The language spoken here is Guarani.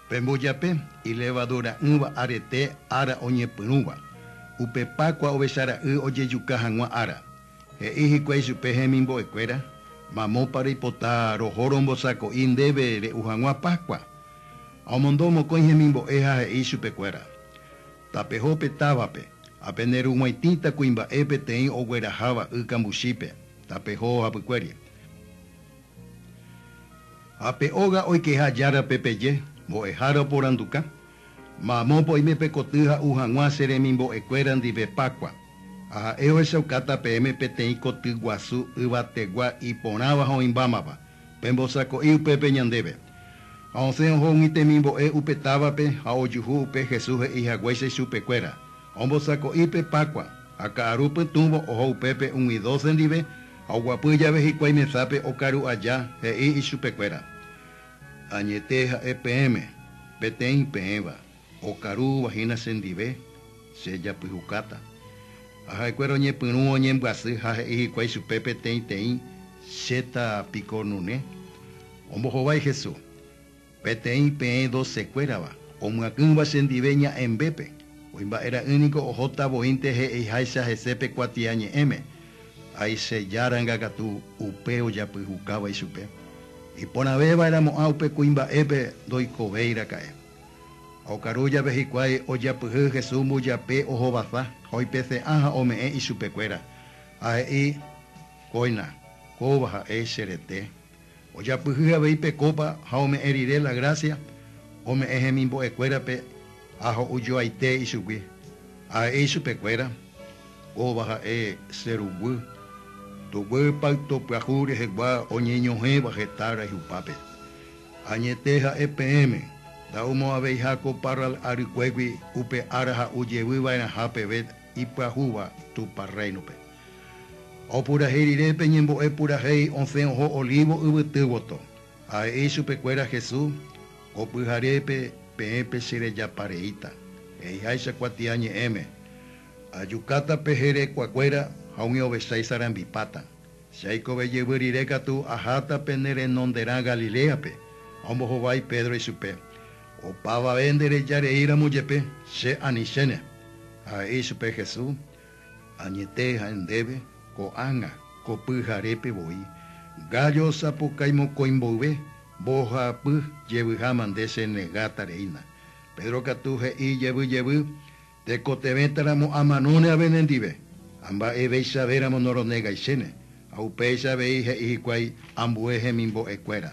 Pe mbojape, ilevadura'ỹva arete ára oñepyrũva, upe Pákua Ovechara'y ojejuka hag̃ua ára. He'i hikuái chupe hemimbo'ekuéra, Mamópa reipota roho rombosako'i ndéve re'u hag̃ua Pákua? Ha omondo mokõi hemimbo'e ha he'i chupekuéra, Tapeho pe távape, ha pene rug̃uaitĩta kuimba'e peteĩ ogueraháva y kambuchípe, tapeho hapykuéri. Ha pe óga oikeha járape peje, Mbo'ehára oporanduka, Mamópa oime pe koty ha'u hag̃ua che remimbo'ekuéra ndive Pákua, ha ha'e ohechaukáta peẽme peteĩ koty guasu yvategua iporãva ha oĩmbámava, pembosako'i upépe ñandéve. Ha osẽ oho umi temimbo'e upe távape ha ojuhu upe Jesús he'i haguéicha ichupekuéra, Ombosako'i pe Pákua. Ha ka'aru pytũvo oho upépe umi dóse ndive, Ha oguapy jave hikuái mesápe okaru aja, he'i ichupekuéra, Añete ha'e peẽme, peteĩ peẽva, okarúva hína chendive, che japyhukáta. Ha ha'ekuéra oñepyrũ oñembyasy ha he'i hikuái chupe peteĩteĩ, Chéta piko nune? Ombohovái Hesu. Peteĩ peẽ docekuérava omyakỹva chendive ña'ẽmbépe, oĩ mba'e ra'ỹ niko ohóta voínte he'iháicha hese pe kuatia ñe'ẽme, Aice Járanga katu upe ojapyhukava ichupe, iporãveva'eramo'ã upe kuimba'épe ndoikovéi raka'e. Ha okaru jave hikuái ojapyhy Jesús mbojape ohovasa ha oipese'ã ha ome'ẽ ichupekuéra, ha he'i, Kóina, kóva ha'e che rete. Ojapyhy avei pe kópa ha ome'ẽ rire la grásia ome'ẽ hemimbo'ekuérape ha ho'ujoaite ichugui. Ha he'i ichupekuéra, Kóva ha'e che ruguy, tuguy payto pyahu rehegua oñeñohẽva heta rayhupápe. Añete ha'e peẽme, nda'umo'ãveiha ko parral arykuégui upe ára ha'u jevy va'erãha peve ipyahúva Tupã Rréinope. Opurahéi rire pe ñembo'e purahéi osẽ oho Olívo yvyty voto, ha he'i chupekuéra Jesús, Ko pyharépe peẽ pecherejapa reíta, he'iháicha kuatia ñe'ẽme, Ajukáta pe herekuakuéra ha umi ovecha isarambipáta. Che aikove jevy rire katu aháta pene renonderã Galiléape, ha ombohovái Pedro ichupe. Opavave ndereja reíramo jepe, Che ani chéne, ha'e ichupe Jesús, añete ha'e ndéve, ko'ág̃a, ko pyharépe voi, gállo osapukái mokõi mboyve, mbohapy jevyháma nde chenegáta reína. Pedro katu he'i jevy jevy, Tekotevẽtaramo amanóne ave nendive, ha mba'eveichavéramo noronegái chéne. Ha upéicha avei he'i hikuái ambue hemimbo'ekuéra.